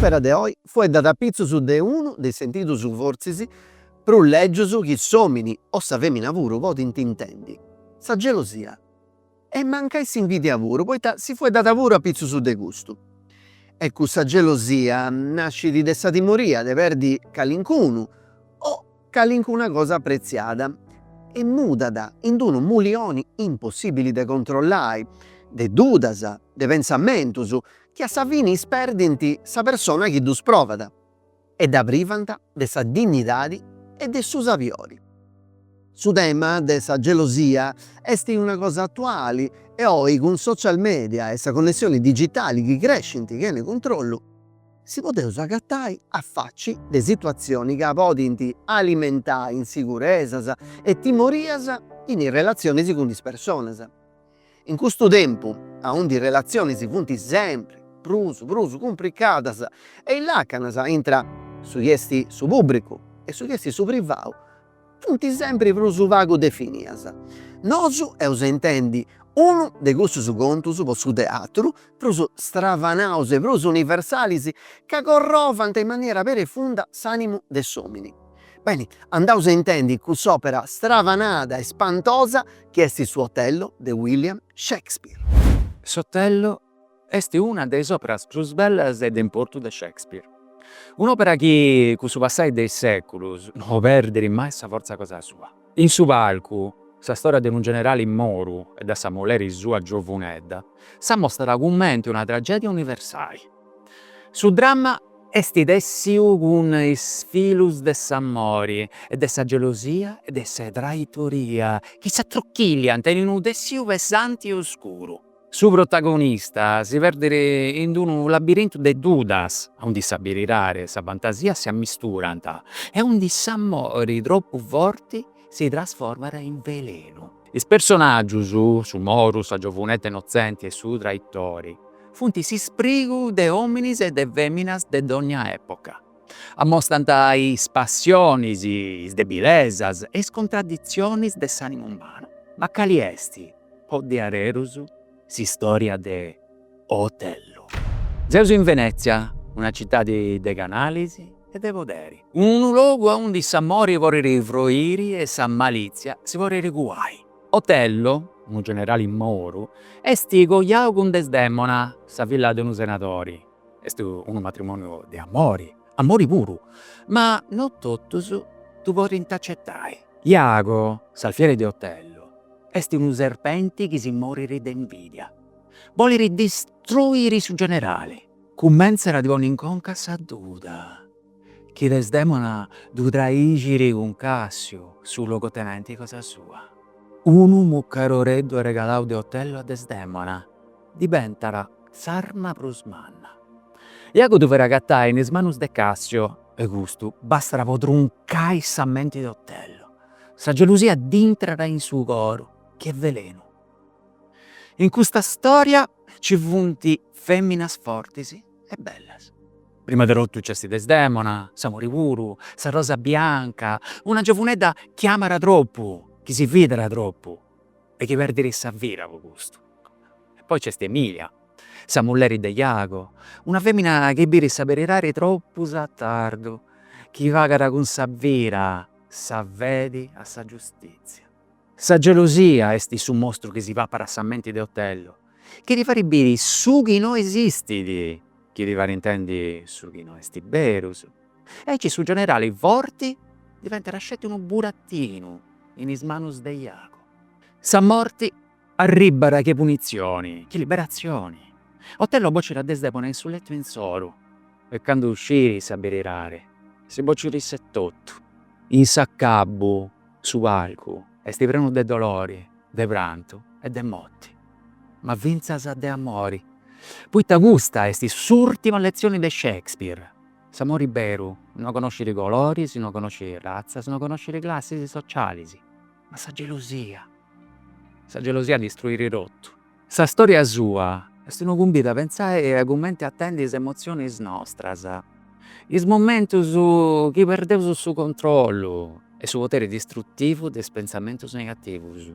S'òpera de oi fueddat a pitzus de unu de is sentidus fortzis prus lègius chi s'òmini, o sa fèmina puru, podint intendi, sa gelosia. E mancai s'invidia puru, poita si fueddat puru a pitzus de custu. E cussa gelosia nascit de sa timoria de perdi calincunu o calincuna cosa pretziada e mudat in unu mulioni impossibili de controllai, de dudas, de pensamentus chi a sa fini isperdint sa persona chi ddus provat. e dda privant de sa dinnidadi e de su sabiori. Su tema de sa gelosia est una cosa atuali e oi cun is social media e sa connessioni digitali chi crescint chene cuntrollu, si podeus agatai a faci de situatzionis ca podint alimentai insigurezas e timorias in is relatzionis cun is personas. In custu tempu aundi is relatzionis funt sempri prus prus cumpricadas e is lacanas intra su chi est su pùbricu e su chi est su privau funt sempri prus pagu definias, nosu eus a intendi unu de cussus contus po su teatru prus stravanaus e prus universalis ca corrovant in maniera perifunda s'animu de s'omini. Beni, andaus a intendi cuss'òpera stravanada e spantosa chi est su Otello de William Shakespeare. S'Otello est una de is òperas prus bellas e de importu de Shakespeare. Un'òpera chi, cun su passai de is sèculus, no perdit mai sa fortza cosa sua. In su palcu, sa storia de unu generali moru e de sa moleri sua giovunedda s'amostat cumenti una tragedia universali. Su dramma est tessiu cun is filus de s'amori e de sa gelosia e de sa traitoria chi s'atruchilliant in unu tessiu pesanti e oscuru. Su protagonista si perdit in d'unu labirintu de dudas, aundi sa beridadi e sa fantasia si ammisturant e aundi s'amori tropu forti si trasformat in velenu. Is personaggius, su moru, sa giovunedda innotzenti e su traitori, funt s'isprigu de ominis e de feminas de dogna epoca. Amostant is passionis, is debilesas e is contraditzionis de s'ànimu umanu. Ma cali est, po diaderus, s'istòria de Otello? Seus in Venètzia, una citadi de canalis e de poderi. Unu logu aundi s'amori podit froriri e sa malìtzia si podit cuai. Otello, unu generali moru, est coiau cun Desdèmona, sa filla de unu senadori, Est unu matrimoniu de amori, amori puru, ma no totus ddu podint acetai. Iago, s'alfieri de Otello, est unu serpenti chi si morit de invidia. Bolit distruiri su generali. Cumentzat a ddi ponni in conca sa duda chi Desdemona ddu traixit cun Cassiu, su logotenenti cosa sua. Unu mucaroreddu arregalau de Otello a Desdemona. diventat s'arma prus manna. Iago ddu farit agatai in is manus de Cassio e custu bastat po truncai sa menti de Otello. Sa gelusia dd'intrat in su coru che velenu. In custa storia ci funt feminas fortis e bellas. Prima de totu c'est Desdemona, s'amori puru, sa rosa bianca, una giovunedda chi amat tropu, chi si fidat tropu. e chi perdit sa vida po custu. E poi c'est Emilia, sa mulleri de Iago, una femina chi birit sa beridadi troppus a tardu, chi pagat cun sa vida sa fedi a sa giustitzia. Sa gelosia est su mostru chi si papat sa menti de Otello, Chi ti farit biri su chi no esistit, chi ti farit intendi su chi no est berus. Aici su generali forti diventat sceti unu burattinu in is manus de Iago. Sa morti arribbat che punitzioni, che liberatzioni. Otello bocit a Desdemona in su lettu insoru e candu scirit sa beridadi, si bocit iss'etotu in s'acabu. Su palcu est prenu de dolori, de prantu e de moti, ma fintzas de amori, poita custa est s'ùrtima letzioni de Shakespeare, s'amori beru no conoscit coloris, no conoscit ratzas, no conoscit classis socialis, ma sa gelosia, sa gelosia distruit totu. Sa stòria sua est unu cumbidu a pentzai a cumenti atendi is emotzionis nostras, is momentus chi perdeus su controllu e su poteri distrutivu de is pentzamentus negativus.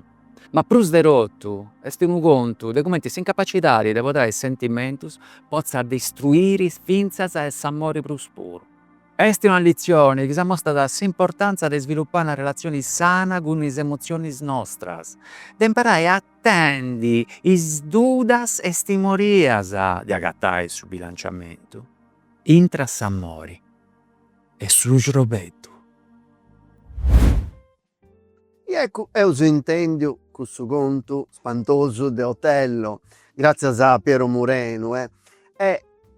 Ma prus de totu est unu contu de cumenti s'incapacidadi de podai is sentimentus potzat distruiri fintzas a s'amori prus puru. Est una letzioni chi s'amostat s'importàntzia de isvilupai una relatzioni sana cun is emotzionis nostras, de imparai a. tendi is dudas e is timorias de agatai su bilanciamentu intra s'amori e su crobeddu. E eccu eus intendiu cussu contu spantosu de Otello, gratzias a Piero Murenu, e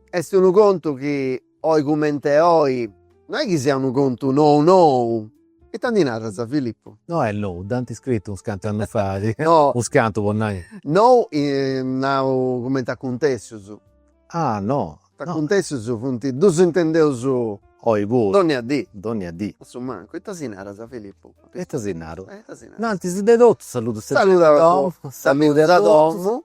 est unu contu chi Oi comente oi, no est chi siat unu contu nou nou. Ita ndi naras Filippu? No est nou, dd'ant scritu unos cantu annus fait, unos cantu po nai. Nou nau comente acuntessus. Ah no. Acuntessus funt chi ddus intendeus oi puru. Dònnia dì. Dònnia dì. A su mancu, ita si naras Filippu? Ita si naru? Ita si naru? No, antzis de totu saludus a domu. Saludus a domu.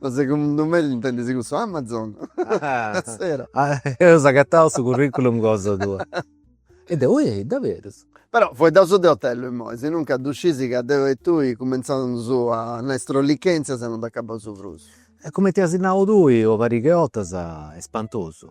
Ma segundu me intendis cussu Amazon? Zero. Eus agatau su curriculum cosa tua. E deu, ehi, daverus? Però fueddaus de otellu immoi, sinuncas ddu scisi ca deu e tui cumintzaus a nai strollichèntzias e non dd'acabaus prus. E cumenti asi nau tui una pariga 'e 'ottas, est spantosu.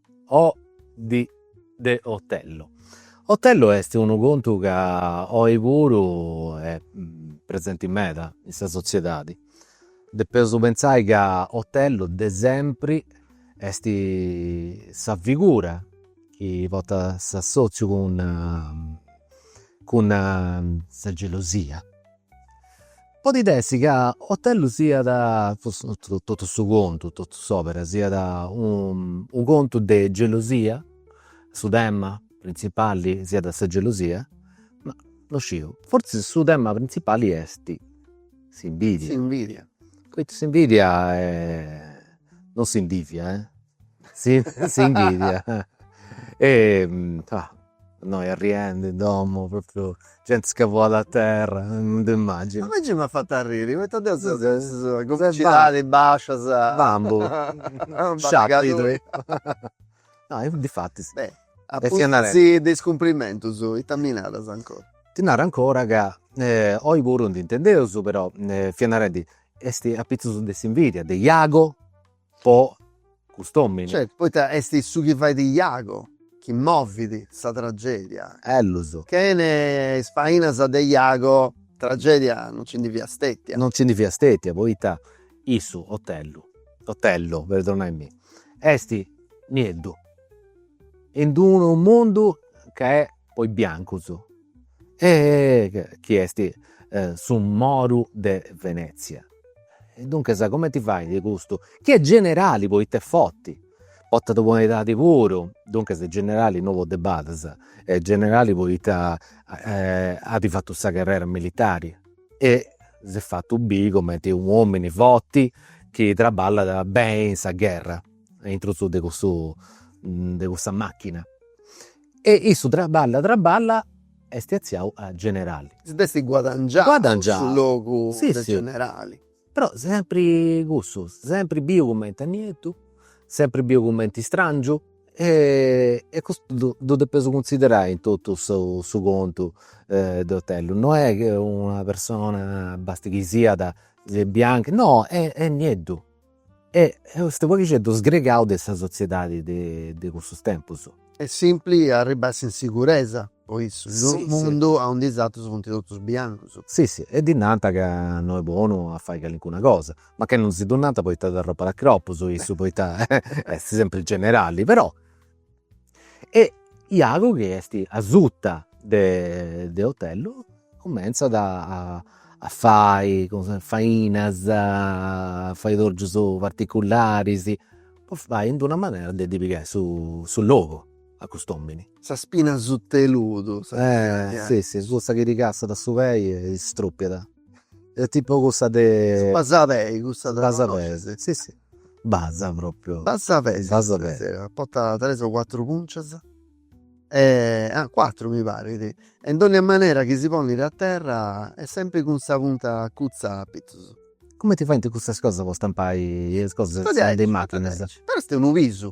O di de Otello. Otello est unu contu ca oi puru est presenti meda in sa sotziedadi. Depeus pentzai ca Otello de sempri esti sa figura chi portat s'assotziu cun cun sa gelosia Podit essi ca Otellu siat, forsi no totu su contu, totu s'òbera, siat u' contu de gelosia, su tema printzipali siat sa gelosia, ma no sciu, forsi su tema printzipali esti s'invidia, poita s'invidia non s'invìdiat S'invidia e innoi arriendi in domu propriu genti scavuada a terra, non ti imàginas. A mei m'at fatu arriri poita deu seu de sa comicidadi bàscia. Bambu, sciàpidu. No, difatis. Beh, a pustis de is cumprimentus ita mi naras ancora? Ti naru ancora ca oi puru ndi intendeus però, fia narendi, est apitzus de s'invidia, de Iago po cust'omini. Certu, poita est su chi fait Iago chi movit sa tragedia. Ellus. Chene is fainas de Iago tragedia non ci ndi fiat stetia. Non ci ndi fiat stetia, poita issu, Otellu, Otello, perdonaimi, est nieddu in unu mundu ca est po is biancus e chi est su moru de Venezia. E duncas cumenti fait custu, chi est generali poita est forti, portat una bona edadi puru, duncas est generali, no po de badis, est generali poita at fatu sa carrera militari e s'est fatu biri cumenti u' omini forti chi traballat beni in sa gherra, aintru de cussu de cussa machina E issu traballa traballa est atziau a generali. Si dd'est guadangiau. Guadangiau. Su logu de generali. Però sempri cussu, sempri biu cumenti nieddu, sempri biu cumenti istrangiu e custu ddu depeus cunsiderai in totu su contu de Otello. No est ca una persona, basta chi siat bianca, no, est nieddu E custu poghixeddu sgregau de sa sotziedadi de cussus tempus. Est simpli a arribbai s'insiguresa po issu in d'unu mundu aundi is atrus funt totus biancus. Si si e ddi nant ca no est bonu a fai calincuna cosa, mancai non si ddu nant poita dd'arropat a cropus issu poita est sempri generali, però. e Iago chi est asuta de de Otello cummentzat a a fai fainas a fai torgius particularis po fai in d'una manera de ddi pigai su su logu a cust'omini. Sa spina asuta 'e ludu. Eh si si cussa chi ti cassat su pei e strupiat. e tipo cussa de. Basapei cussa de. Basapei si si basa propriu. Basapei si si si potat tres o quattru puncias e ah quattru mi parit e in dogna manera chi si ponit a terra est sempri cun sa punta acutza a pitzus. Cumenti faint cussas cosas po stampai is cosas de is machinas. Però est unu pisu.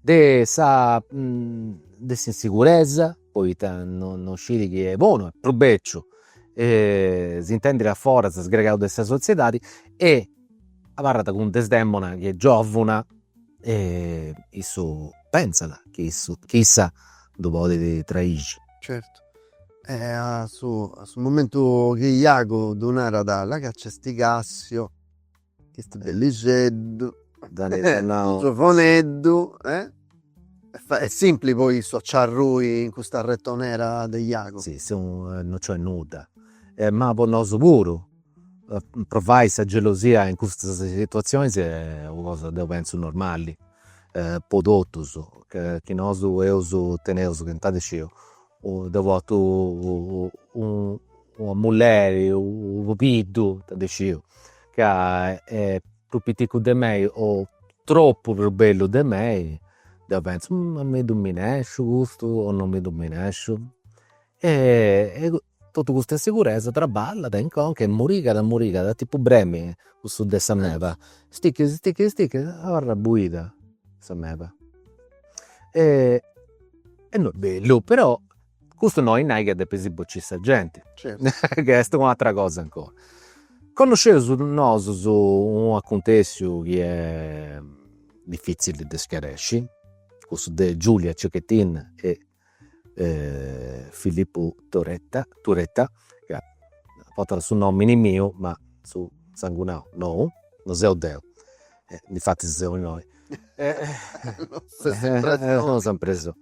de sa de s'insiguresa poita no no scit chi est bonu est prus beciu s'intendit a foras sgregau de sa sotziedadi e abarrat cun Desdemona chi est giovuna e issu pentzat chi issu chi issa ddu podit traixi. Certu e a su a su momentu chi Iago ddu narat là ca nci est Cassio Ch'est bellixeddu, giovoneddu e est simpli po issu a nci arrui in custa retonera de Iago. Si, si non nc'est nudda. Ma po nosu puru, provai sa gelosia in custas situatzionis est una cosa deu pentzu normali po totus, chi nosu eus, teneus, chi ita ndi sciu Deu portu una mulleri, unu pubiddu, ita ndi sciu, ca est prus piticcu de mei o tropu prus bellu de mei, deu pentzu, ma mi ddu minesciu custu o no mi ddu minesciu. E totu custa insiguresa traballat in conca e murigat murigat, tipu bremi, cussu de sa meba, stichit stichit stichit abarrat buida sa meba E no est bellu, però custu no oi nai ca depis bociri sa genti, ca est un'atera cosa ancora. Connosceus nosus un'acuntessiu chi est difitzili de schiaresci, cussu de Giulia Cecchettin e Filippu Turetta, Turetta, ca portat su nomini miu ma su sangunau no, no seu deu difatis seu innoi non seu in prexoni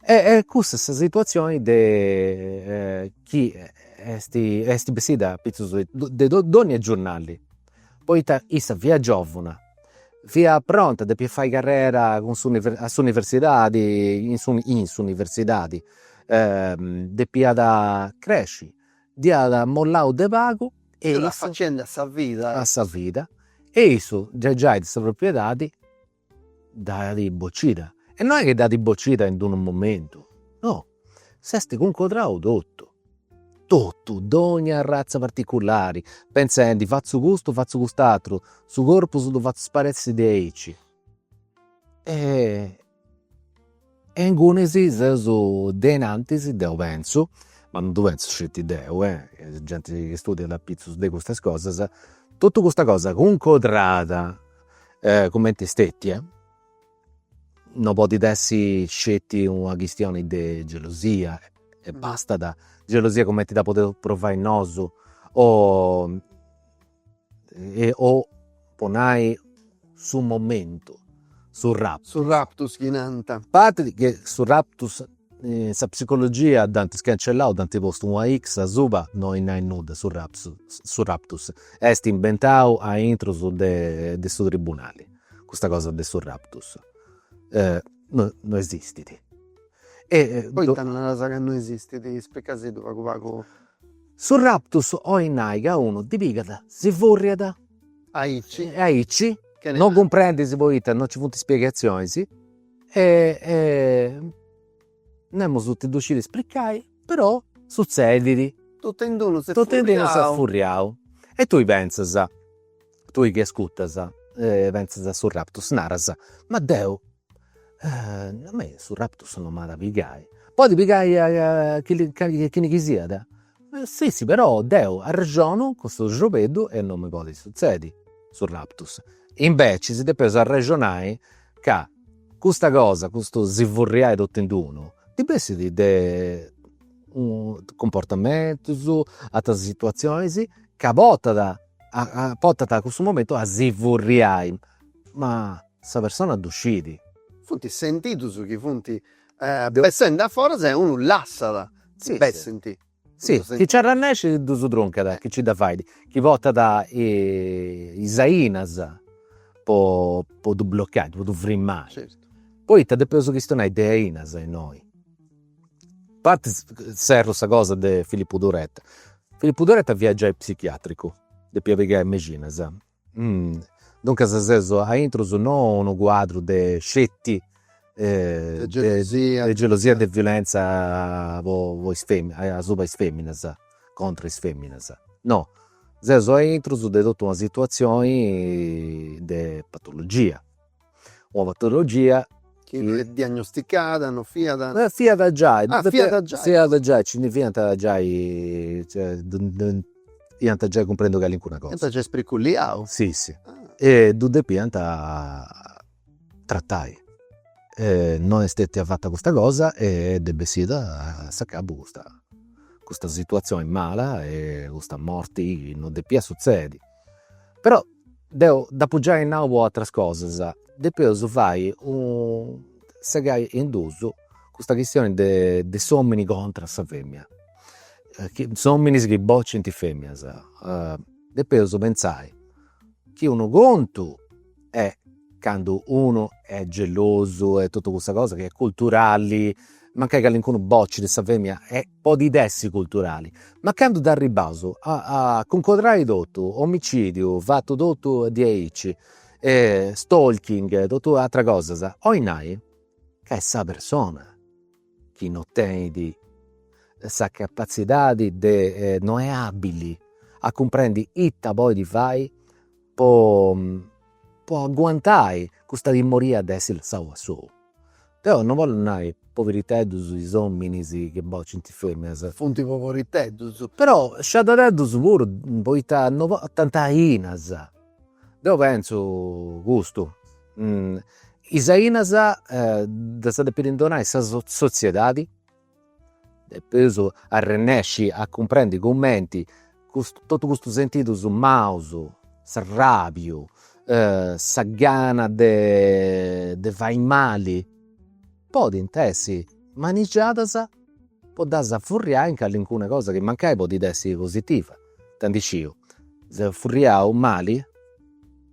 e cussa est sa situazioni de chi est est bessida apitzus de dogna giornali poita issa fiat giovuna fiat pronta depiat fai carrera cun s' a s'universidadi in su in s'universidadi depiat cresci Dd'iat mollau de pagu e issu. Dd'iat facendi a sa vida. A sa vida e issu gei fiat sa propriedadi dd'at bocida e no est chi dd'at bocida in d'unu momentu, no, s'est cuncodrau totu, totu, dogna arratza particulari, pentzendi fatzu custu, fatzu cust'aturu, su corpus ddu fatzu sparessi de aici E ingunis seus de inantis deu pentzu, ma non ddu pentzu sceti deu, est genti chi studiat apitzus de custas cosas, totu custa cosa cuncodrada cumenti est stetia non podit essi sceti una chistioni de gelosia e bastat, gelosia cumenti dda podeus provai nosu o o po nai su momentu, su raptus. Su raptus chi nant. A parti chi su raptus in sa psicologia dd'ant scancellau, dd'ant postu una X asuba, no oi nai nudda su raptus, su raptus est imbentau aintru de su tribunali, custa cosa de su raptus no no esistit. Poita naras ca no esistit? Ispricasiddu pagu pagu Su raptus oi nai ca unu ddi pigat, si furriat aici, non cumprendis poita non nci funt spiegatzionis e nemus ti ddu scit spricai, però sutzedit. Totu in unu s'est furriau. Totu in unu s'est furriau. E tui pentzas Tui chi ascutas pentzas a su raptus, naras, ma deu a mei su raptus non m'at a pigai, podit pigai a a chini chi siat, si si però deu arrexonu cun su srobeddu e non mi podit sutzedi su raptus, invecias depeus arrexonai ca custa cosa, custu si furriai totu in d'unu ndi bessit de cumportamentus, ateras situazionis ca portat portant a cussu momentu a si furriai, ma sa persona ddu scit. Funt is sentidos chi funt bessendi a foras e unu lassat chi bessint. Si, chi nci arrannèscit ddus truncat, chi nci dda fait, chi portat is ainas po ddu blocai, po ddu frimmai, poita depeus chistionai de ainas innoi. A parti serru sa cosa de Filippu Turetta, Filippu Turetta fiat giai psichiatricu, depiat pigai mexinas, duncas seus aintrus non unu cuadru de sceti de gelosia e de violenza po is feminas, asuba is feminas, contra is feminas, no, seus aintrus de totu una situazioni de patologia una patologia chi fiat diagnosticada, no fiat? Fiat giai, ah fiat giai, fiat giai, nci ndi fiant giai, cioè iant giai cumprendu calincuna cosa. Iant giai spriculliau. Si si, e ddu depiant tratai, e no est stetia fata custa cosa e dd'est bessida a s'acabu custa custa situazioni mala e custa morti chi non depiat sutzedi però deu dd'apu giai nau po atras cosas, depeus fai, segai in dus custa chistioni de de s'omini contra a sa femina, is ominis chi bocint is feminas, depeus pentzai chi unu contu est candu unu est gelosu e totu cussa cosa chi est culturali, mancai calincunu bocit sa femina e podit essi culturali, ma candu dd'arribbaus a cuncodrai totu, omicidiu fatu totu diaici, stalking e totu ateras cosas, 'olit nai ca est sa persona chi non tenit sa capatzidadi de, non est abili a cumprendi ita podit fai po po aguantai custa timmoria de essi lassau a solu. Deu non bollu nai poveriteddus is ominis chi bocint is feminas. Funt poveriteddus. Però sciadadeddus puru poita non portant ainas. Deu pentzu custu, is ainas ddas depit donai sa sotziedadi Depeus arrennesci a cumprendi cumenti totu custus sentidus maus, s'arràbiu, sa gana de de fai mali, podint essi manigiadas po ddas furriai in callincuna cosa chi mancai podit essi positiva, ita ndi sciu, seu furriau mali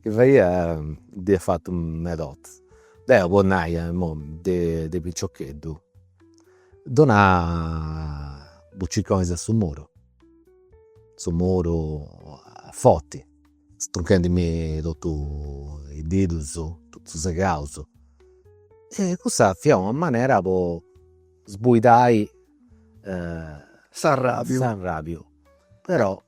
Chi faia dd'ia fatu medas bortas. Deu po nai imoi de piciocheddu donà bucicconis a su muru, su muru a forti, strunchendimì totu is didus, totu segaus. E cussa fiat una manera po sbuidai s'arrabiu, però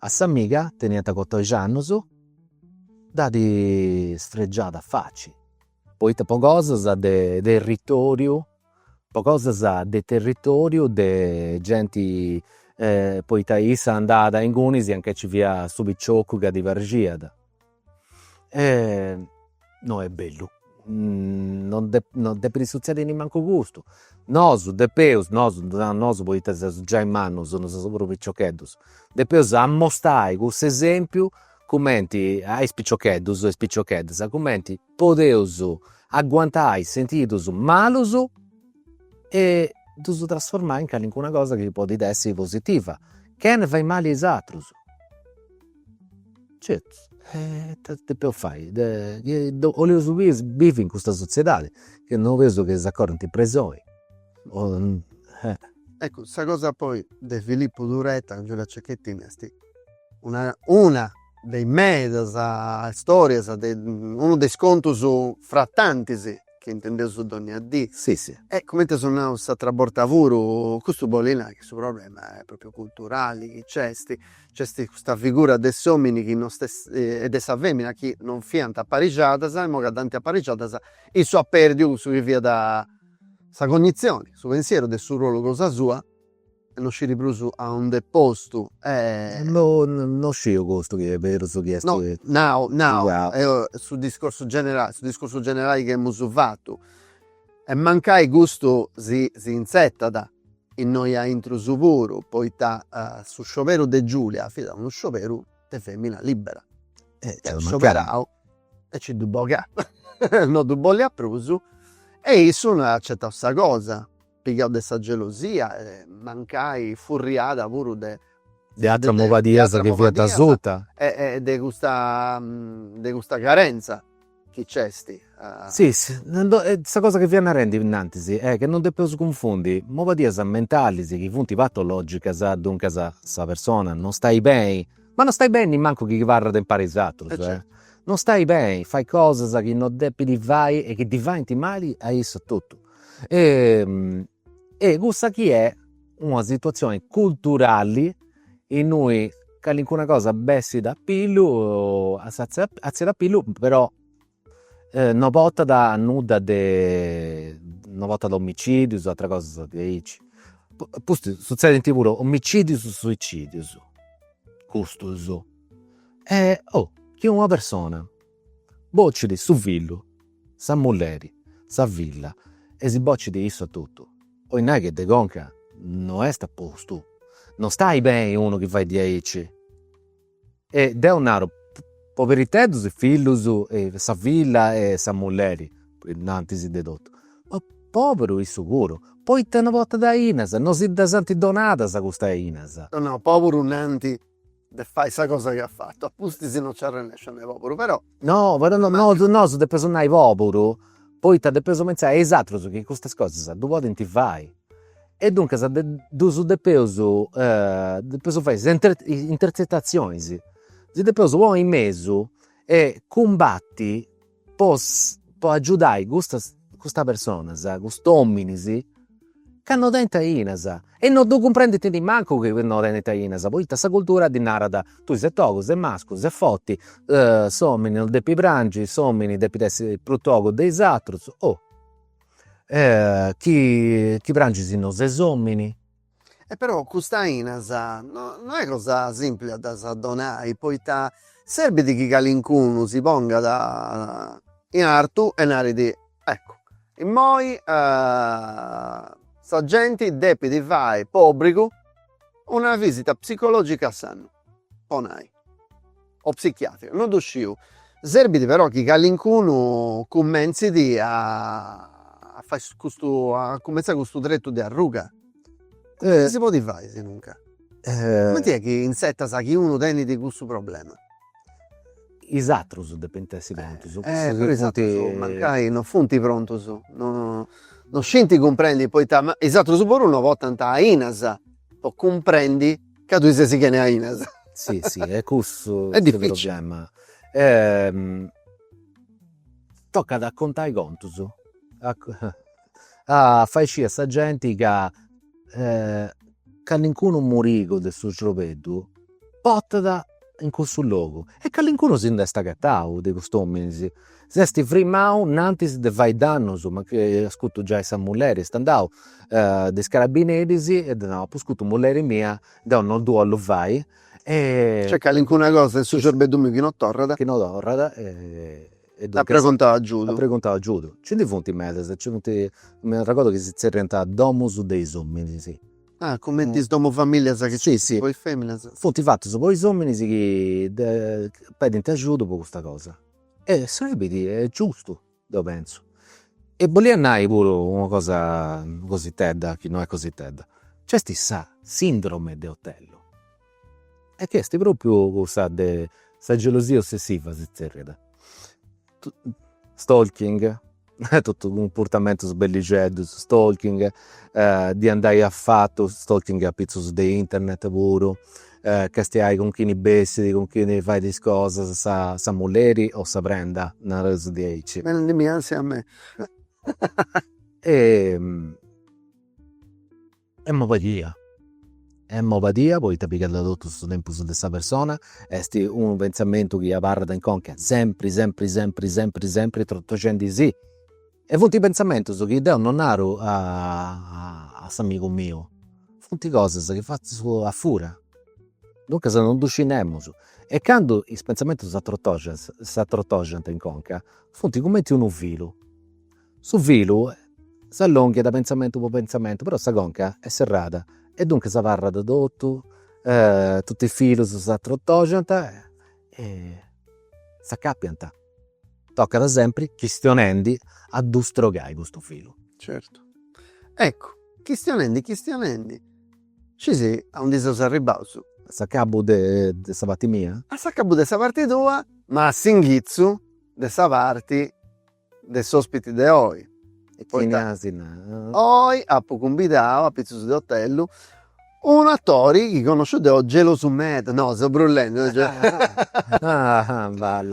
A s'amiga, teniant catòixi annus, dd'at sfregiada a faci. Poita po cosas de territoriu, po cosas de territoriu de genti, poita issa andàt a ingunis anca nci fiat su picioccu chi ddi praxiat e no est bellu non depit, non depit sutzedi nimancu custu, nosu depeus nosu, naraus nosu poita seus giai mannus, no seus prus piciocheddus, depeus amostai cussu esempiu cumenti a is piciocheddus e is picioccheddas cumenti podeus aguantai sentidus malus e ddus trasformai in calincuna cosa chi podit essi positiva, chene fai mali a is atrus Certu e ita depeus fai chi boleus bivi in custa sotziedadi chi no boleus chi s'acorrint in presoni eccu sa cosa poi de Filippu Turetta cun Giulia Cecchettin est una una de is medas storias de unu de is contus fra tantis chi intendeus dogna dì e cumenti eus nau s'atera borta puru custu bolli nai chi su problema est propriu culturali chi nc'est Nc'est custa figura de s'omini chi non e de sa femina chi non fiant aparixadas, e immoga dd'ant aparixadas, issu at perdiu cussu chi fiat sa cognizioni, su pensieru de su rolu cosa sua, e non sciri prus a und'est postu. Non sciu custu chi est berus su chi est. No, nau, nau, eo su discorsu generali, su discorsu generali chi emus fatu, e mancai custu si si inzetat Innoi aintrus puru, poita su scioberu de Giulia fiat unu scioberu de femina libera. At scioberau e nci dd'at bogau, no ddu bolliat prus e issu no at acetau sa cosa, pigau de sa gelosia e mancai furriada puru de. De ateras mobadias chi fiant asuta. E de custa carenza. Chi nc'est a. Si, sa cosa chi fia narendi innantis est chi non depeus cunfundi mobadias mentalis chi funt patologicas, duncas sa persona non stai beni, ma non stai beni nimancu chi abarrat impari a is atrus, non stai beni, fait cosas chi non depit fai e chi ddi faint mali a issa etotu. E cussa chi est una situazioni culturali Innui calincuna cosa bessit a pillu, atzit a pillu, però no portat a nudda, no portat a omicidius o ateras cosas diaici, apustis sutzedint puru omicidius e suicidius custus e o chi una persona Bocit su fillu, sa mulleri, sa filla e si bocit issu a totu. Bolit nai chi de conca no est a postu? No stait beni unu chi fait diaici? E deu naru, Poberitedus is fillus e sa filla e sa mulleri, innantis de totu. Ma poberu issu puru, poita no portat ainas, no si ddas ant donadas custas ainas. No naus poberu nant de fai sa cosa chi at fatu, a pustis non ci arrennescis a nai poburu, però. No però no no nosu depeus nai poburu, poita depeus pentzai a is atrus chi custas cosas ddu podint fai e duncas ddus depeus depeus fai is intertzetatzionis, si depeus ponni in mesu e cumbati po po agiudai custas personas cust'ominis ca no tenint ainas e no ddu cumprendint nemmancu chi no tenint ainas poita sa cultura ddi narat tui ses togu ses mascu ses forti s'omini non depit prangi s'omini depit essi prus togu de is atrus chi prangis no ses omini E però cust'ainas no est cosa simpli a ddas donai, poita serbit chi calincunu si pongat in artu e narit, eccu, immoi sa genti depit fai po obbrigu una visita psicologica a s'annu, po nai o psichiatrica, no ddu sciu, serbit però chi calincunu cummentzit a a fai custu a cumentzai custu tretu de arruga, comenti si podit fai si non ca. Cumenti est chi intzertas chi unu tenit cussu problema. Is atrus depint essi prontus. Però is atrus mancai non funt prontus, no no scint cumprendi poita is atrus puru no portant ainas po cumprendi Ca tui ses chene ainas. Si si e cussu est su problema. Tocat a contai contus a fai scì a sa genti ca calincunu murigu de su srobeddu portat in cussu logu e calincunu si nd'est agatau de cust'ominis, s'est frimau innantis de fai dannus, mancai at scutu giai sa mulleri, est andau de is carabineris e at nau, apu scutu mulleri mia, deu non ddu 'ollu fai e. Nc'est calincuna cosa in su cerbeddu miu chi non torrat. Chi non torrat e. At preguntau agiudu. At preguntau agiudu. Nci ndi funt medas, nci funt, m'arregodu chi si zerriant domus de is ominis Ah, cumenti is domu famìllias chi nc'est po is fèminas. Funt fatus po is òminis chi pedint ajudu po custa cosa. E serbit, est giustu, deu pentzu. E bolìa nai puru una cosa cositedda, chi no est cositedda. Nc'est sa sindrome de Otello, e chi est pròpriu cussa de sa gelosia ossessiva, si zerriat stalking totu cumportamentus bellixeddus stalking ddi andai afatu stalking apitzus de internet puru castiai cun chini bessit cun chini fait is cosas sa sa mulleri o sa prenda nareus diaici e Est mobadia, est mobadia poita pigat totu su tempus de sa persona, est unu pentzamentu chi abarrat in conca sempri sempri sempri sempri sempri trotoxendi si. E funt pentzamentus chi deu non naru a s'amigu miu, funt cosas chi fatzu a fura, duncas non ddu scit nemus. E candu is pentzamentus s'atrotoxant in conca, funt cumenti unu filu, Su filu s'allonghiat pentzamentu po pentzamentu, però sa conca est serrada e duncas abarrat totu, totu is filus s'atrotoxant e s'acapiant. Tocat sempri chistionendi a ddu strogai custu filu. Certu. Eccu, chistionendi chistionendi scisi a undi seus arribbaus. A s'acabu de sa parti mia? A s'acabu de sa parti tua, ma a s'inghitzu de sa parti de s'ospiti de oi. E chini as nau? Oi apu cumbidau a pitzus de otellu unu atori chi connosciu deu gelosu meda, no seu brullendi,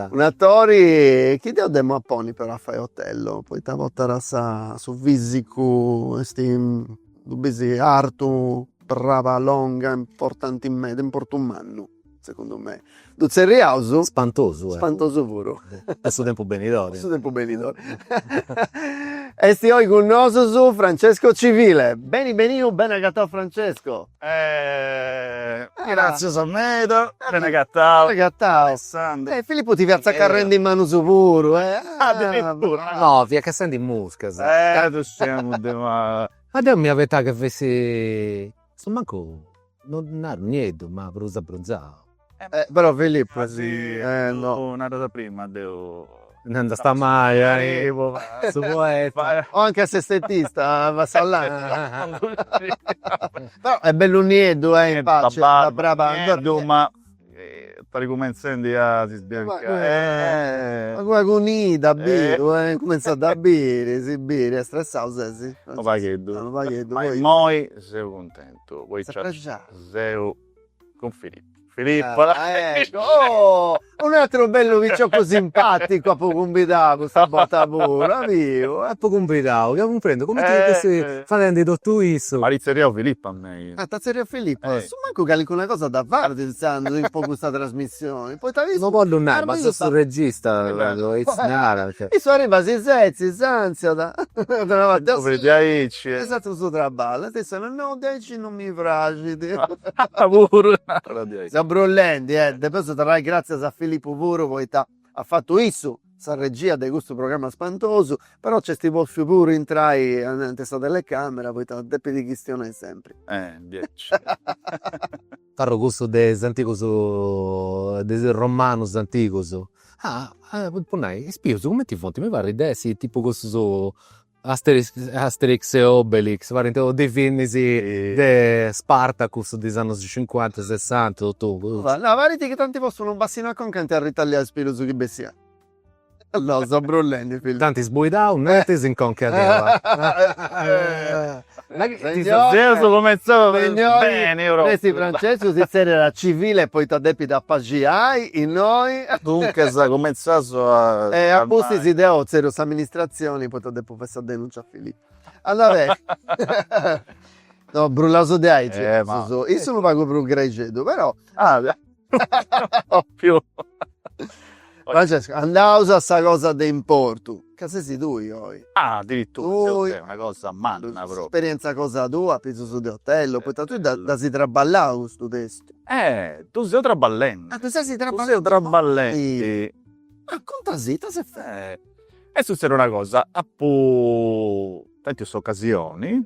un'atori chi deu dd'emu a ponni però a fai otello poita portat sa su fisicu esti ddu bis artu, braba longa, importanti meda, importu mannu. Segundu me. Ddu tzerriaus. Spantosu. Spantosu puru. A su tempus benidori. A su tempus benidori. Esti oi cun nosus Francesco Civile. Beni beniu, beni agatau Francesco. Gratzias meda, beni agatau. Beni agatau. Alessandro. Filippo ti fiat tzacarrendi manus puru. Addirittura. No, fiat cassendi muscas. Ddus sciamus de. Ma deu m'ia pentzau ca fessit. Su mancu no naru nieddu ma prus abbronzau. Però Filippo si no naras a prima deu no nd'est a mai arrivu a su Poetu. O anche a s'estetista passau là. Però est bellu nieddu e in pace. Sa braba nieddu ma Pari cumentzendi a si sbiancai eh. Una cua cunida biru eh. Cumentzat a biri, si biri ca stressau sesi. Unu pagheddu. Unu pagheddu poi. Ma immoi seu cuntentu poita. Ses prexau. Seu cun Filippo. Filippo. Ah ecco oh. Un'ateru bellu picioccu simpaticu apu cumbidau custa borta puru as biu. Apu cumbidau, chi apu cumprendiu, cumenti chi fessi fadendi totu issu. M'at itzerriau Filippo a mei. Ah t'at tzerriau Filippo. Su mancu calincuna cosa dda faghet intzandus in po custa trasmissioni, poita issu. No bollu nai, ma seu su regista, aici narat. Issu arribat si setzit, ansiat, torrabat a su. Diaici. Est fatu su traballu, e issu narat, no, diaici non mi praxit. Puru. Seu brullendi, e depeus torrai gràtzias a Filippu puru poita. At fatu issu sa regia de custu programma spantosu, però nc'est pòtziu puru intrai ananti a sa telecàmera poita depit chistionai sempri. Eh, diaici. Parru cussu de is antigus, de is romanus antigus. Ah, po nai, is pius cumenti funt, mi parrit de essi tipu cussus Asterix Asterix e Obelix parint totus de filmis de Spartacus de is annus cincuanta sessanta totu cussa. No parit chi t'anti postu unu bassinu a conca ant arritallau is pilus chi bessiant no seu brullendi films. T'ant sbuidau nenti si in conca tua. Seus cumentzaus beni propriu. Nessi Francescu si tzerriat a civile poita depit apaxiai innoi. Duncas cumentzaus a. E a pustis deu tzerriu s'amministratzioni poita depu fai sa denuncia a Filippu. Anda beni. No, brullaus de aici. Issu unu pagu prus grexeddu però. Propriu. Francesco, andaus a sa cosa de importu, ca sesi tui oi. Ah, addirittura. Tui. Una cosa manna propriu. S'esperienza cosa tua, apitzus de Otello, poita tui dd'asi traballau custu testu. Eh, ddu seu traballendi. Ah, ddu sesi traballendi. Ddu seu traballendi. Ah, contasi, ita s'est fatu. Est sutzèdia una cosa, apu tentu s'ocasioni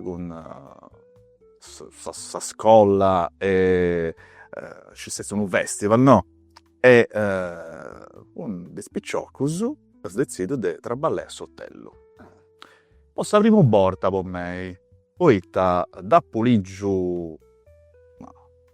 cun sa scolla e c'est stètiu unu festival no e unu de is piciocus at detzìdiu de traballai a s'Otellu po sa primu borta po mei poita dd'apu ligiu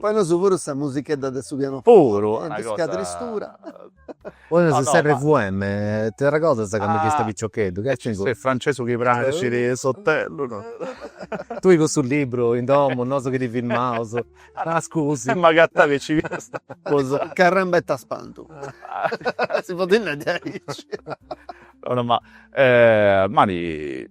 Poneus puru sa musichedda de su pianoforte e de sa tristura. Poneus is RVM, ti arregodas de candu fiasta piciocheddu? Che nc'est cussu? Francescu chi praxit s'Otellu. Tui cun su libru in domu, nosu chi ti filmaus. Ah scusi. E m'agatau e nci fiast. Carramba ita spantu. Si podit nai diaici. No no ma Mari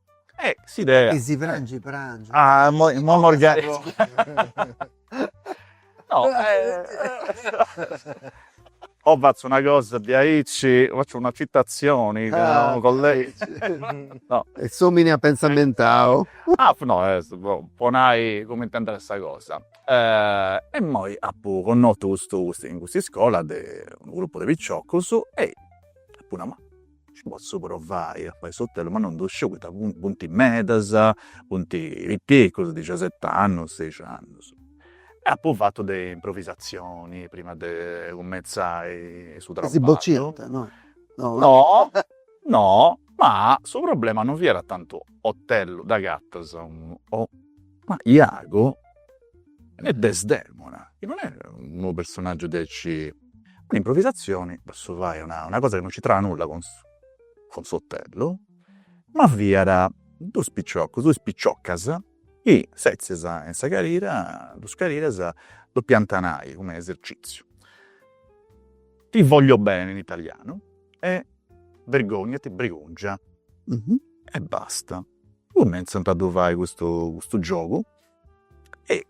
Eh s'idea. Chi si prangi prangi. Ah immoi immoi mos No fatzu una cosa diaici, fatzu una citazioni cun unu collega. No. E s'omini app'e inzammentau. Ah no est po po nai cumenti est andada sa cosa. E immoi appu connotu custu custu in cust'iscola de unu gruppu de picciocus e appu nau ma Nci potzu provai a fai s'otelu, ma non ddu sciu poita funt medas, funt piticcus, dixiaset'annus, seix'annus. E apu fatu is improvisatzionis prima de cumentzai su traballu. Si bociant, no? No, no, ma su problema non fiat tantu otelu, ddu agatas unu, ma Iago e Desdemona, chi non est unu personaggiu diaici Un'improvisazioni, potzu fai una una cosa chi non c'intrada nulla cun su cun s'otellu, ma fiada dus picioccus, dus piciocas chi setzias in sa carira, dus cariras, depiant nai cun eserciziu, ti voglio bene in italianu e vergognati brigungia e basta. Cumenzant a ddu fai custu giogu e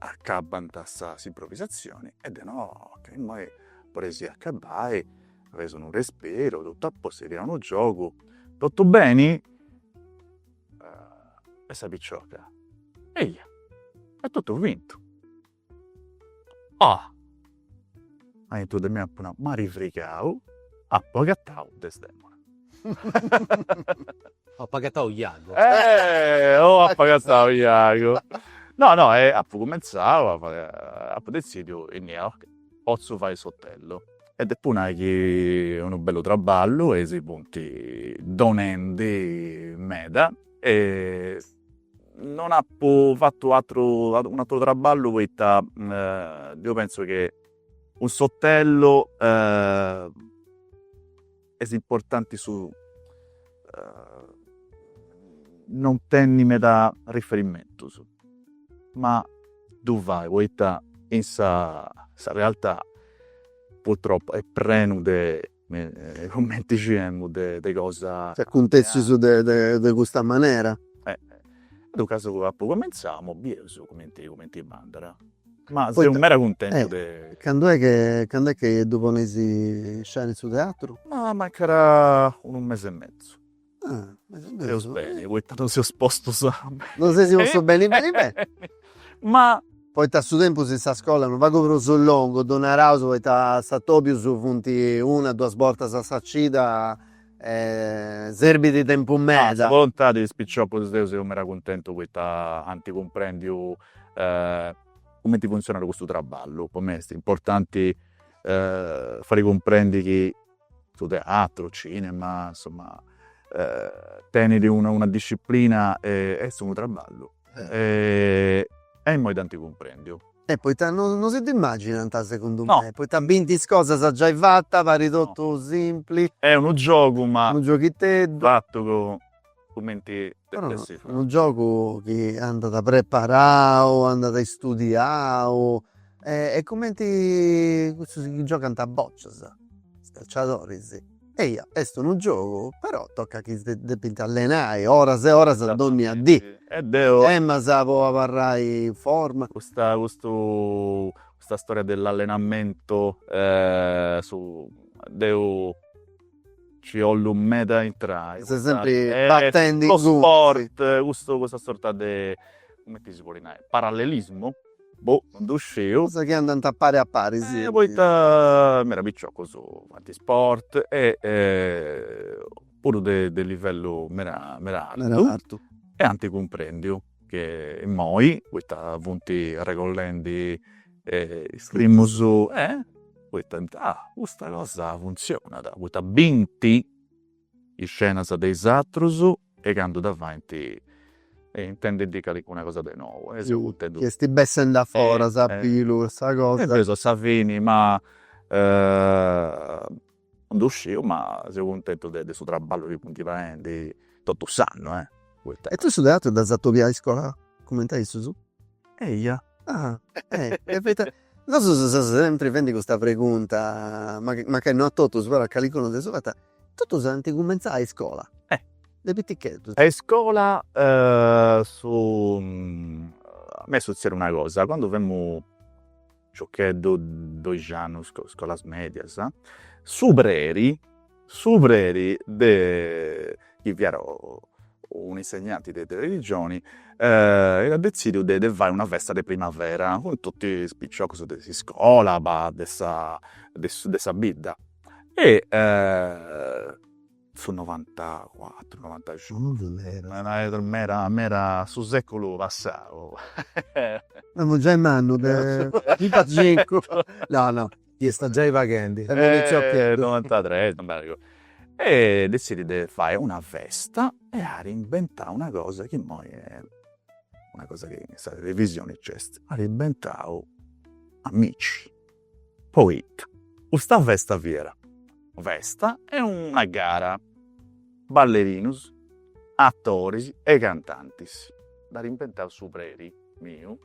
Acabbant sa s'improvisatzioni e deu no, ok, immoi podeis acabbai fadeis unu respiru totu a postu, fiat unu giogu, totu beni? e sa picioca, eia est totu fintu, oh Aintru de mei apu nau, m'at frigau, apu agatau Desdemona. Oh apu agatau Iago. Eh oh apu agatau Iago. No no e apu cumentzau a fai, apu detzidiu, innia ok, potzu fai s'otellu. E depu nai chi est unu bellu traballu e si funt donendi meda e Non apu fatu atru unu atru traballu poita deu pentzu chi cun s'otellu est importanti su non tenni meda riferimentus ma ddu fai poita in sa sa realtà purtroppu est prena de Cumenti scieus de cosas acuntessias de custa manera. Duncas apu apu cumenzau, imoi bieus cumenti cumenti andada. Ma seu meda cuntentu de. Candu est chi candu est chi ddu ponis in scena in su teatru? Ma mancada unu mesi e mesu. Seus beni, poi tanti non seus postus a. Non sesi postu beni beni beni. Ma. Poita su tempus in sa scolla no fait prus longu ddu naraus poita is atobius funt una duas bortas a sa cida e serbit tempus meda. Sa bolontadi de is piciocus deu seu meda cuntentu poita ant cumprendiu cumenti funtzionat custu traballu. Po mei est importanti fai cumprendi chi su teatru, cinema, insomma tenidi una disciplina e est unu traballu e immoi dd'anti cumprendiu. E poita non si dd'immaginant segundu me, poita bint is cosas giai fatas, parit totu simpli. Est unu giogu ma no unu gioghiteddu. Fatu cun cumenti depiat essi. Unu giogu chi andat preparau, andat istudiau e cumenti cussus chi giogant a bocias, is calciadoris, eia, est unu giogu però tocat chi depint allenai oras e oras dònnia dì. E deu. Est mancai po abarrai in forma. Custa custu custa storia de s'allenamentu deu Nci 'ollu meda a intrai. Ses sempri batendi in su sport, custu custa sorta de, cumenti si podit nai, parallelismu? Boh, non ddu sciu. Cosas chi andant a pari a pari, si. Poita meda piciocus faint sport e puru de livellu meda meda artu e ant cumprendiu. che immoi poita funti arregollendi is primus, poita nant ah custa cosa funtzionat, poita binti is scenas de is atrus e candu dda faint intendint calincuna cosa de nou. Chi esti bessendi a foras a pillu cussa cosa. E invecias a sa fini ma Non ddu sciu ma seu cuntentu de de su traballu chi funt faendi totu s'annu. E tui su teatru dd'as atobiau a iscola cumenti a issus? Eia, ah e poita, nosus seus sempri faendi custa pregunta, mancai no a totus però a calincunu dd'eus fata, totus ant cumentzau a iscola, de piticheddus. A iscola su, a mei est sutzediu una cosa, candu femu Piciocheddu, doixi annus, scolas medias. Su preri, su preri de, chi fiat un'insegnanti de religioni, iat detzidiu de fai una festa de primavera cun totu is piciocus de s'iscola, de sa bidda e su novantacuatru novantacincu meda meda su seculu passau semus giai mannus de novantacincu no no iat giai faghendi novantatres non m'arregodu e dezzidi de fai una festa e at imbentau una cosa chi imoi una cosa chi in sa televisioni nc'est at imbentau amici Poita custa festa fiat una festa e una gara, ballerinus, atoris e cantantis. Dd'at inventau su preri miu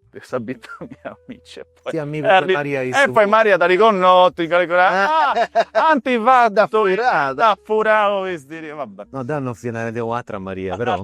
de sa bidda mia Amici. E poi Maria dd'at connotu in calincunu atru. Ant fatu, nd'at furau is diritus, va bè. No, no, fia narendi de, un'atra Maria però.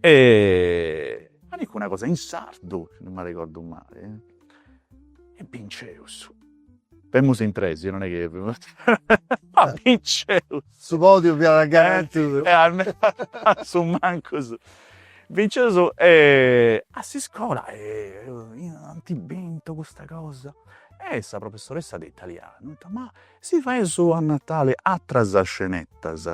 ma dicu una cosa in sardu, si non m'arregordu mali, e binceus, femus in tres, non est chi ma binceus, su podiu fiat garantidu, su mancus, binceus e a s'iscola ant bistu custa cosa, e sa professoressa de italianu at nau, ma si faeus a Natali atras scenettas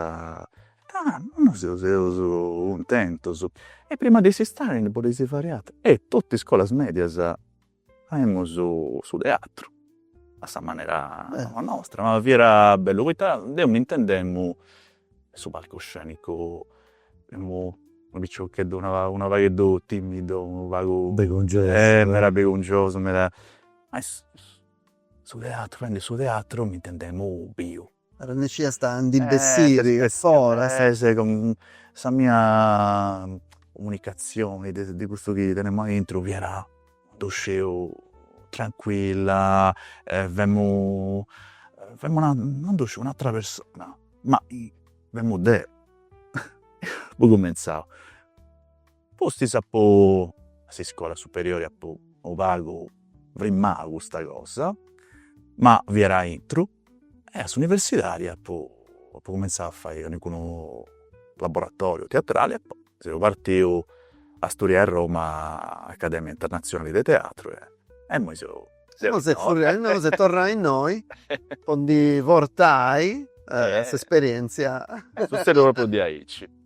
Ah! Nois seus cuntentus. E prima de s'istadi ndi podeis fai atru. E totu is scolas medias faimus su teatru, a sa manera nostra. Ma fiat bellu poita deu mi intendemu in su palcoscenicu, unu piciocheddu, unu pagheddu timidu, unu pagu. Bregungiosu. Eh! Meda bregungiosu, meda. Ma su teatru, fadendi su teatru mi intendemu biu. Arrennesciast a ndi bessiri foras. Est sa mia comunicazioni de custu chi tenemu aintru fiat no ddu sciu tranquilla e femu femu una non ddu sciu un'attra persona, ma femu deu apu cumentzau Pustis apu, a s'iscola superiori apu unu pagu frimmau custa cosa, ma fiat aintru e a s'universidadi apu cumenzau a fai calincunu laboratoriu teatrali e poi seu partiu a studiai a Roma Accademia Internazionale de Teatro e imoi seu innoi. Ses torrau innoi po ndi portai s'esperientzia. Est sussediu propriu diaici.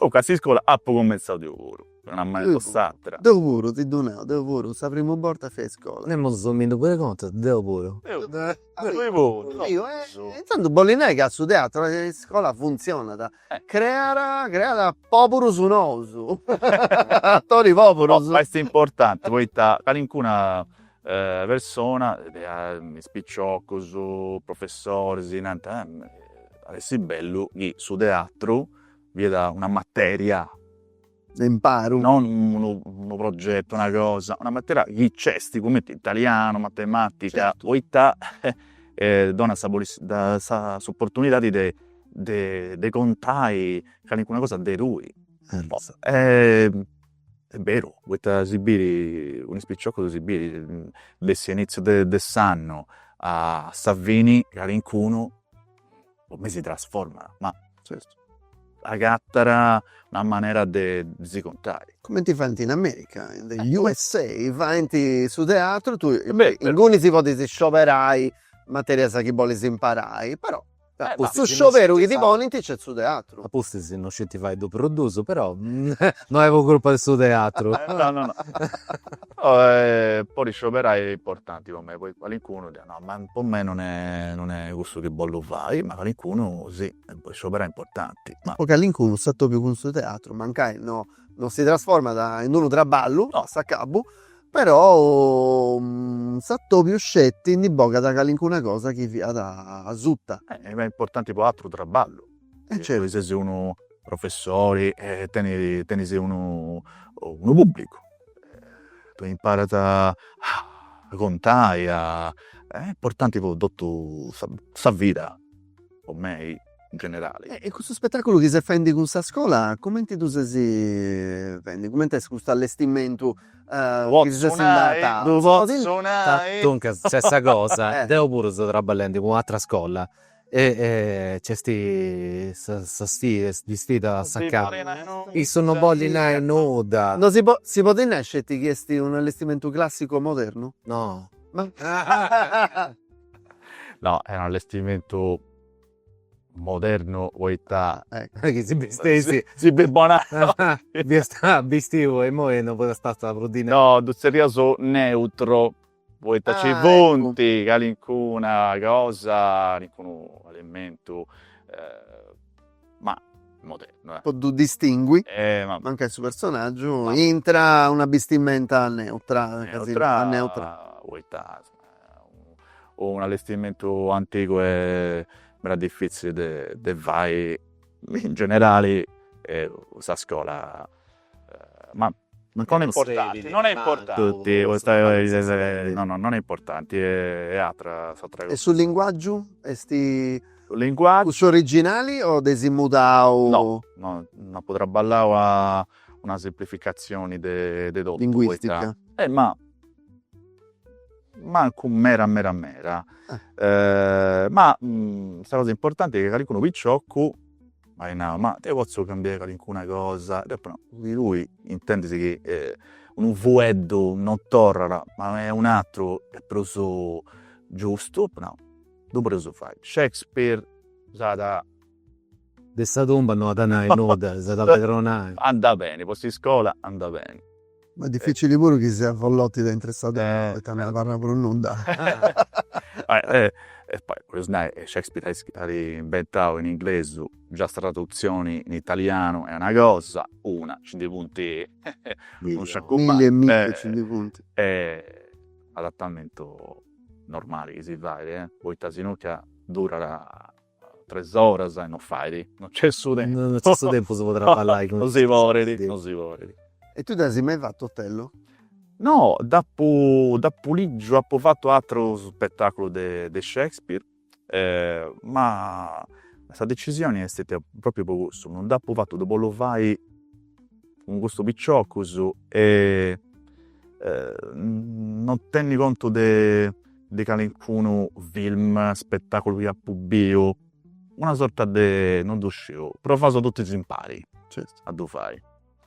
Ah, a s'iscola apu cumentzau deu puru, una manera o s'atra. Deu puru, ti ddu nau, deu puru, sa primu borta fia a iscola. Nemus, domandu puru contus, deu puru. Deu puru. Intantu bollit nai ca su teatru a iscola funtzionat, creat, creat poburus nous, atoris poburus. Est importanti poita calincuna persona, is picioccus, professoris, nant, at essi bellu chi su teatru fiat una materia de imparu, non unu progetu, una cosa, una materia chi nc'est cumenti italianu, matematica, poita donat sa possi sa s'opportunidadi de de contai calincuna cosa de tui e beru poita si biri, cun is picioccus si biri, de s'inizziu de s'annu a sa fini calincunu po mei si trasformat, ma agattat una manera de si contai. Cumenti faint in America, in the USA, faint su teatru, tui inguni ti podis scioberai materias chi bolis imparai, però Su scioberu chi ti ponint nc'est su teatru. A pustis non scint fai ddu produsu però no est po crupa de su teatru. No no no. Podi scioberai est importanti po mei poita calincunu podit nai, ma po mei non est non est cussu chi bollu fai, ma calincunu si, scioberai est importanti. Po calincunu s'atobiu cun su teatru mancai no no si trasformat in unu traballu a s'acabu Però s'atobiu sceti ndi bogat calincuna cosa chi fiat asuta. Est importanti po atru traballu. E certu. Chi ses unu professori e tenis tenis unu unu pubblicu. T'imparat a contai a. Est importanti po totu sa vida po mei in generale. E custu spettaculu chi ses faendi cun sa scola cumenti ddu ses faendi? Cumenti est custu allestimentu chi ses andendi a. Ddu potzu nai. Duncas nc'est sa cosa, deu puru seu traballendi cun un'atra scola e nc'est sa sfida, is sfidas a s'acabu. Issu non bollit nai nudda. No si podit, si podit nai sceti chi est un allestimentu classicu o modernu? No. No, est un allestimentu modernu poita chi si bistessis de Bonannu fiast bistiu e imoi no fiat stau prus dinai. No ddu tzerriaus neutru poita ci funt calincuna cosa calincunu elementu ma modernu po ddu distingui mancai su personaggiu intra una bistimenta neutra neutra poita Unu allestimentu antigu è meda diffizzili de fai in generali e sa scola ma non è importanti non è importanti no no non è importanti è atra s'atra cosa. E su linguaggiu esti cussu originali o dd'esi mudau? No no nd'apu trabballau a una semplificazioni de totu poita. Linguistica. Eh ma mancu mera mera mera ma sa cosa importanti est chi calincunu picioccu m'at nau, ma deo potzu cambiai calincuna cosa, deu apo nau, chi tui intendis chi unu fueddu non torrat ma nc'est un'aturu est prus giustu, apu nau, ddu podeus fai, Shakespeare s'at de sa tumba non at a nai nudda, s'at a pedronai. Andat beni po s'iscola andat beni Ma difficili puru chi siat Follotti de intre sa terra poita non abarrat prus nudda. E poi podis nai, Shakespeare at inventau in inglesu, già sa tradutzioni in italianu est una cosa, una, nci ndi funt unu sciacu mannu. Milli e milli nci ndi funt. Adatamentu normali chi si fait, poita si no ca durat Tres oras e non fait, non nc'est su tempus. Non nc'est su tempus po traballai cun is. Non si podet, non si podet. E tui dd'as mai fatu Otello? No, dd'apu dd'apu ligiu, apu fatu atrus spetaculus de de Shakespeare, ma sa decisioni est stetia propriu po cussu, non dd'apu fatu, ddu bollu fai cun custus piciocus e non tenni contu de de calincunu film, spettaculu chi appu biu, una sorta de, non du sciu, però faeus totus impari a du fai.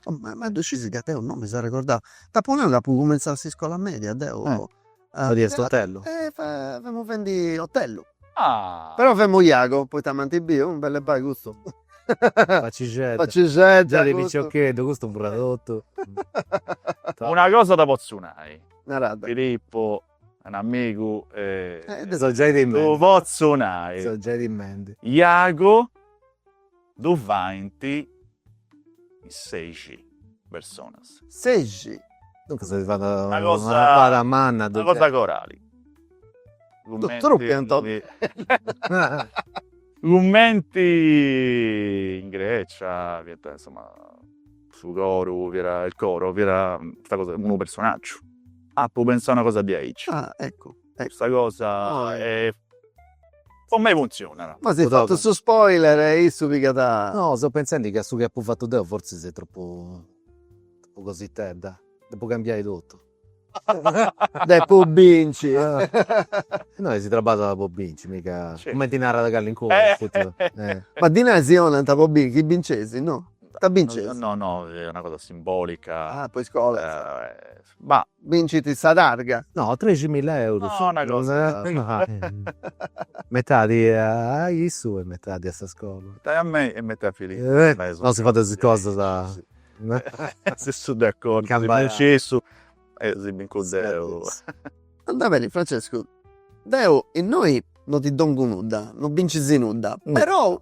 Ma ddu scis ca deu non mi seu arregordau, t'apu nau ca apu cumentzau a iscola media deu. Fadiast otellu? Femu fendi otellu. Però femu jagu, poita m'ant biu, bellu, bai custu. Facixedda. Facixedda. Già de piciocheddu, custu fiat totu. Una cosa dda potzu nai. Narada. Filippu. Un amigu e ddu potzu nai, Iago, ddu faint in sexi personas. Sexi? Duncas si fait una faina manna. Una cosa corali. Cumenti in Grecia fiant insoma su coru fiat, il coro fiat custa cosa unu personaggiu Apu pensau una cosa diaici. Ah, eccu, eccu. Custa cosa est. Po mei funtzionat. M'as fatu su spoiler e issu pigat. No, seu pentzendi ca su chi apu fatu deu fortzis est tropu tropu cositedda. Depu cambiai totu. Depu binci. Nosu si traballat po binci, miga cumenti narat calincunu, futis. Ma ddi nai si 'onant po binci, chi binceis, no. Ita binceis? No, no, est una cosa simbolica. Ah, po is iscolas. Bah, bincit sa targa. No, treximilla eurus. No, una cosa. Metadi a issu e metadi a sa iscola. Metadi a mei e metadi a Filippo. Nosu fadeus is cosas. Seus de acordu, si bincit issu e si bincu deu. Andat beni Francescu, deu innoi no ti dongu nudda, no bincis nudda, perou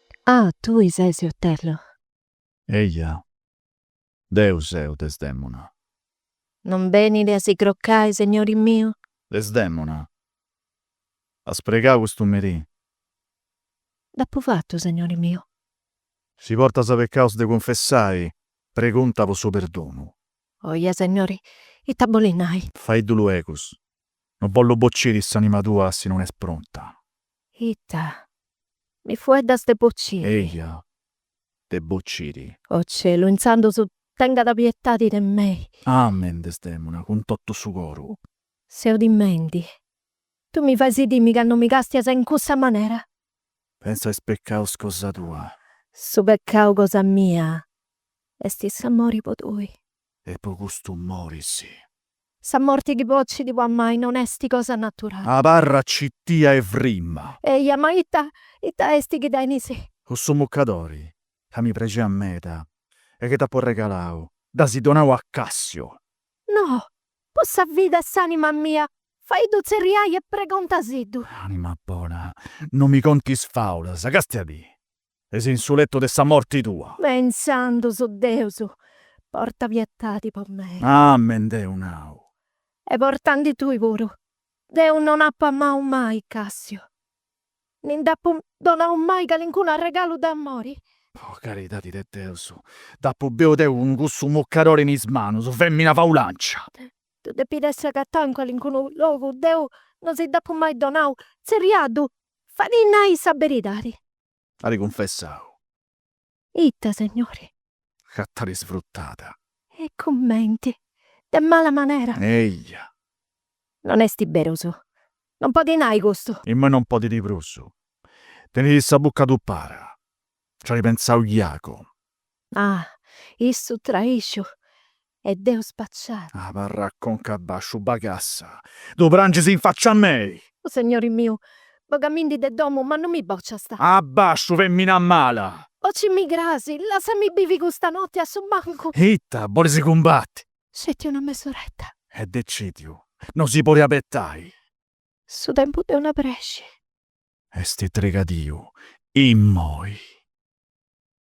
Ah, tui ses Otello! Eja, deu seu, Desdemona. Non benit a si crocai, segnori miu? Desdemona, as pregau custu merì? Dd'apu fatu, segnori miu. Si portas pecaus de cunfessai, pregunta po su perdonu. Oja, segnori, ita bolit nai? Faiddu luegus, Non bollu bociri s'anima tua si non est pronta. Ita? Mi fueddas de bociri? Eja, de bociri. O Celu, intzandus tengada pietadi de mei. Amen, Desdemona, cun totu su coru. Seu timendi. Tu mi fais timi candu mi castias in cussa manera. Pensa a is pecaus cosa tua. Su pecau cosa mia est s'amori po tui. e po custu moris. Sa morti chi bocit po amai non esti cosa naturali. Abarra cittia e frimma. Eja, ma ita, ita esti chi tenis? Cussu muccadori ca mi prexiat meda e chi t'apu arregalau, dd'as donau a Cassiu. No, po sa vida e s'anima mia, faiddu tzerriai e pregontasiddu. Anima bona, non mi contis faulas, castiadì. ses in su lettu de sa morti tua. Ma intzandus Deus porta pietadi po mei. Amen deu nau. E portandi tui puru. Deu non apu amau mai Cassiu, ni nd'apu donau mai calincunu arregalu d'amori. Po caridadi de Deus, dd'apu biu deu cun cussu muccadori in is manus, femina faulancia. Ddu depit essi agatau in calincunu logu, deu non si dd'apu mai donau, tzerriaddu Faiddi nai sa beridadi. At cunfessau. Ita, segnori? Ca t'at isfrutada. E cumenti? De mala manera? Eja. Non est berus. Non podit nai custu. Immoi non podit prus. Tenit sa bucca tupada. Nci at pensau Jagu. Ah, issu traìxiu e deu spacciada. Abarra a conca abbasciu bagassa, ddu prangis in faccia a mei! O segnori miu, bogamindi de domu, ma non mi bociast! Abbasciu, femina mala! Bocimì crasi, lassami bivi custa notti a su mancu! Ita, bolis cumbatti? Sceti una mesoretta. Est decìdiu, no si podit abetai! Su tempus de una presci. Est trigadiu, immoi!